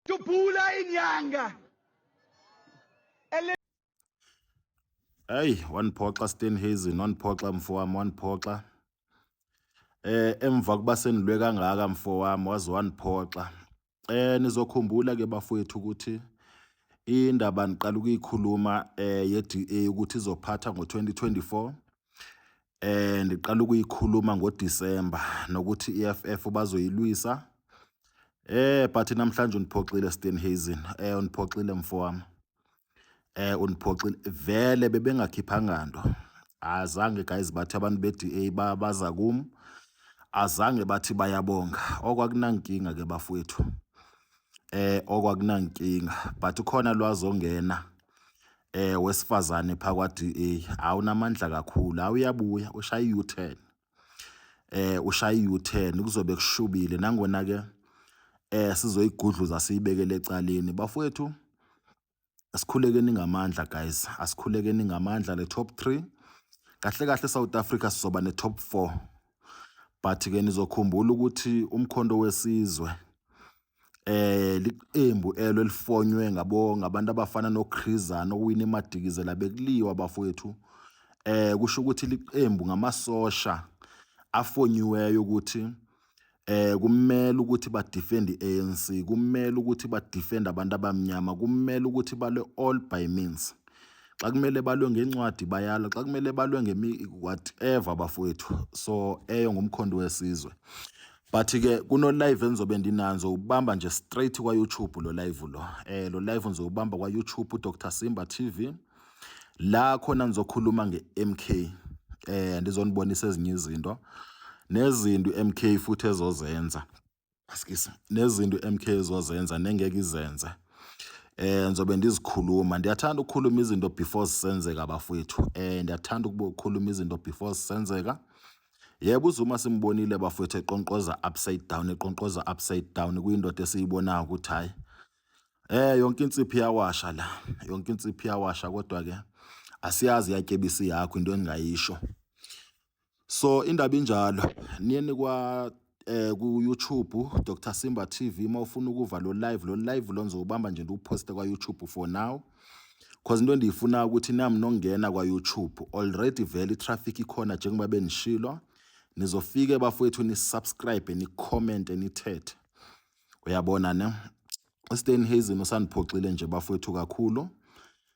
Dubula inyanga. Hey, waniphoxa Stenhazen, waniphoxa mfowami, waniphoxa. Eh emva kuba senilwe kangaka mfowami waze waniphoxa. Eh nizokhumbula ke bafowethu ukuthi indaba niqala ukuyikhuluma eh ye-DA ukuthi izophatha ngo-2024 eh ndiqala ukuyikhuluma ngoDisemba nokuthi iFF bazoyilwisa eh but namhlanje uniphoxile Steenhuisen eh uniphoxile mfowami eh uniphoxile vele bebengakhiphanga nto azange guys bathi abantu beDA baza kum azange bathi bayabonga okwakunankinga ke bafowethu eh okwakunankinga but khona lwazongena eh wesifazane phakwa DA awunamandla kakhulu awuyabuya ushaya u-turn eh ushaya u-turn kuzobe kushubile nangona ke eh sizoyigudluza siyibekele ecaleni bafowethu asikhulekeni ngamandla guys asikhulekeni ngamandla le top 3 kahle kahle South Africa sizoba ne top 4 but ke nizokhumbula ukuthi umkhondo wesizwe eh liqembu elo elifonywe ngabo ngabantu abafana noChrizana okuwina iMadikizela bekuliwa bafowethu eh kusho ukuthi liqembu ngamasosha afonyiweyo ukuthi eh kumele ukuthi ba defend ANC kumele ukuthi ba defend abantu abamnyama kumele ukuthi bale all by means xa kumele balwe ngencwadi bayala xa kumele balwe ngemi whatever bafowethu so eyo ngumkhondo wesizwe but ke kuno live engizobe ndinanzo ubamba nje straight kwa YouTube lo live lo eh lo live ngizobamba kwa YouTube Dr Simba TV la khona ngizokhuluma nge MK eh ndizonibonisa ezinye izinto nezinto MK futhi ezozenza askisi nezinto MK ezozenza nengeke izenze eh ngizobe ndizikhuluma ndiyathanda ukukhuluma izinto before zisenzeka bafowethu eh ndiyathanda ukukhuluma izinto before zisenzeka Yebo uZuma simbonile bafowethu eqonqoza upside down eqonqoza upside down kuyindoda esiyibonayo ukuthi hayi eh yonke insiphi yawasha la yonke insiphi yawasha kodwa ke asiyazi yatyebisi yakho into engingayisho so indaba injalo niye nikwa eh ku YouTube Dr Simba TV uma ufuna ukuva lo live lo live lo ngizobamba nje ndiwuposte kwa YouTube for now cause into endiyifuna ukuthi nami nongena kwa YouTube already vele traffic ikhona njengoba benishilo nizofike bafowethu ni subscribe ni comment nithethe uyabona ne uStan Hazen usandiphoxile nje bafowethu kakhulu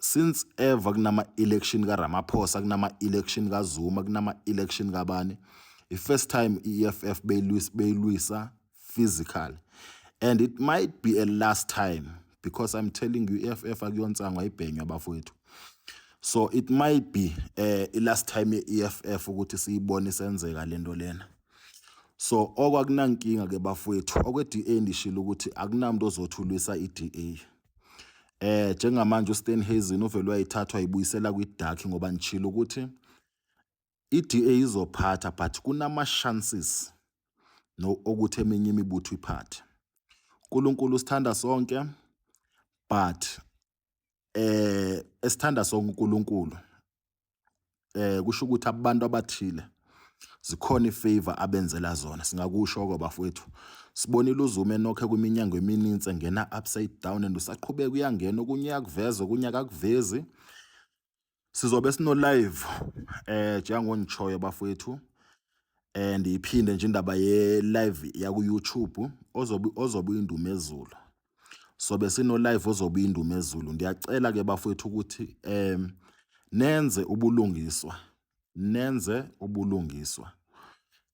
since ever kunama-election karamaphosa kunama-election kazuma kunama-election kabani i-first time i-eff beyilwisa physical and it might be a last time because i'm telling you i-eff akuyonsangwa ibhenywa bafowethu so it might be eh uh, last time ye-EFF ukuthi siyibone senzeka lento lena so okwakunankinga ke bafowethu okwe-DA ndishilo ukuthi akunamuntu ozothulwisa i-DA Eh njengamanje uStenhazen uvele wayithathwa ibuyisela kwiDark ngoba ngishilo ukuthi iDA izophatha but kunama chances no ukuthi eminye imibutho iphathe. uNkulunkulu usithanda sonke but eh esithanda sonke uNkulunkulu eh kusho ukuthi abantu abathile zikhona ifavor abenzela zona singakusho ke bafowethu sibonile uzume nokhe kwiminyango emininzi engena upside down and usaqhubeka uyangena okunye akuveze okunye akakuvezi sizobe sino live eh njengongishoyo bafowethu and iphinde nje indaba ye live yaku YouTube ozobe ozobe indumezulu sobe sino live ozobuya indumezulu ngiyacela ke bafowethu ukuthi em nenze ubulungiswa nenze ubulungiswa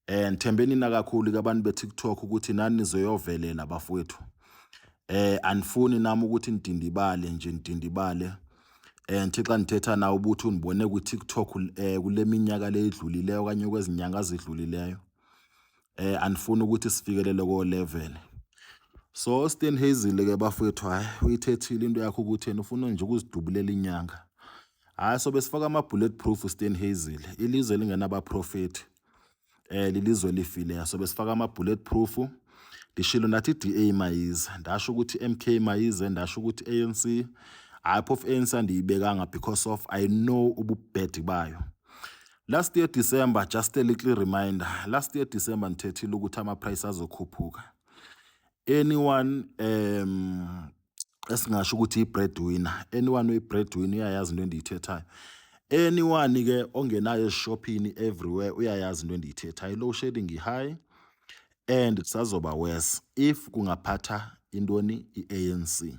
eh ngithembeni na kakhulu kabantu be TikTok ukuthi nani nizoyovelela bafowethu eh anifuni nami ukuthi ngidindibale nje ngidindibale eh ngithi xa ngithetha nawe ubuthi unibone ku TikTok eh kuleminyaka leyidlulileyo kanye kwezinyanga ezidlulileyo eh anifuni ukuthi sifikelele ko level so Stan Hazel ke bafethu hayi uyithethile into yakho ukuthi yena ufuna nje ukuzidubulela inyanga hayi so besifaka ama bullet proof Stan Hazel ilizwe lingenaba prophet eh lilizwe lifile so besifaka ama bullet proof ngishilo nathi DA mayize ndasho ukuthi MK mayize ndasho ukuthi ANC hayi phofu ANC andiyibekanga because of I know ububhedi bayo Last year December, just a little reminder. Last year December ngithethile ukuthi ama price azokhuphuka. Anyone um esingasho ukuthi i-breadwinner. Anyone uyi-breadwinner uyayazi into endiyithethayo. Anyone ke ongenayo eshophini everywhere uyayazi into endiyithethayo. Low shedding high and kusazoba worse if kungaphatha intoni i-ANC.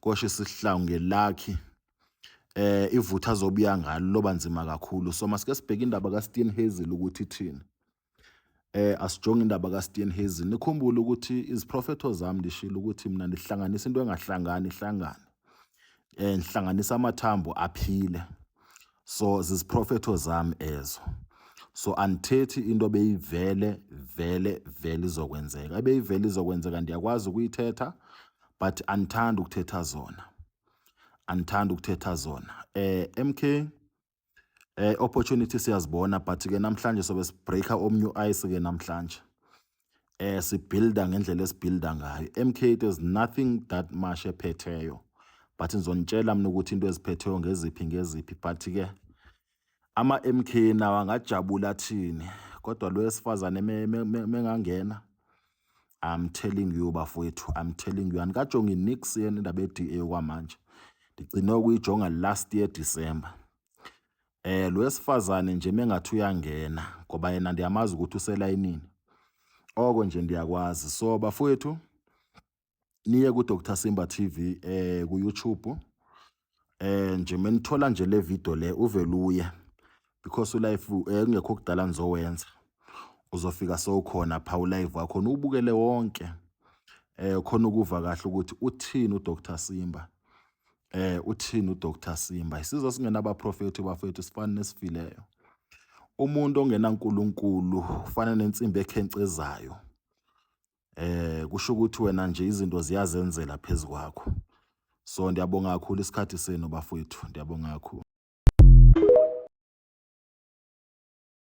kosho isihlangu ngelakhi eh ivutha azobuya ngalo loba nzima kakhulu so masike sibheke indaba ka Steven Hazel ukuthi ithini eh asijonge indaba ka Steven Hazel nikhumbule ukuthi iziprofetho zami ndishilo ukuthi mina ndihlanganisa into engahlangani ihlangane eh ngihlanganisa amathambo aphile so ziziprofetho zami ezo so andithethi into beyivele vele vele izokwenzeka ebeyivele izokwenzeka ndiyakwazi ukuyithetha but andithandi ukuthetha zona andithandi ukuthetha zona eh MK eh opportunity siyazibona but ke namhlanje sobe sibreaker omnye ice ke namhlanje eh sibuilda ngendlela esibuilda ngayo MK there's nothing that much ephetheyo but ngizonitshela mina ukuthi into eziphetheyo ngeziphi ngeziphi but ke ama MK nawo angajabula thini kodwa lo wesifazane mengangena I'm telling you bafowethu I'm telling you anikajongi nix yena indaba ye-DA kwamanje ndigcine ukuyijonga last year December Eh lo wesifazane nje mengathi uyangena ngoba yena ndiyamazi ukuthi uselayinini. Oko nje ndiyakwazi. So bafowethu niye ku Dr Simba TV eh ku YouTube. Eh nje menithola nje le video le uveluye because ulife eh kungekho kudala nizowenza. Uzofika sowukhona pha ulive wakho ubukele wonke. Eh khona ukuva kahle ukuthi uthini uDr Simba. Eh uthini uDr Simba isizwe singenabaprofethi bafethu sifana nesifileyo umuntu ongenaNkulunkulu ufana nensimbi ekhencezayo eh kusho ukuthi wena nje izinto ziyazenzela phezukwakho so ndiyabonga kakhulu isikhathi senu bafowethu ndiyabonga kakhulu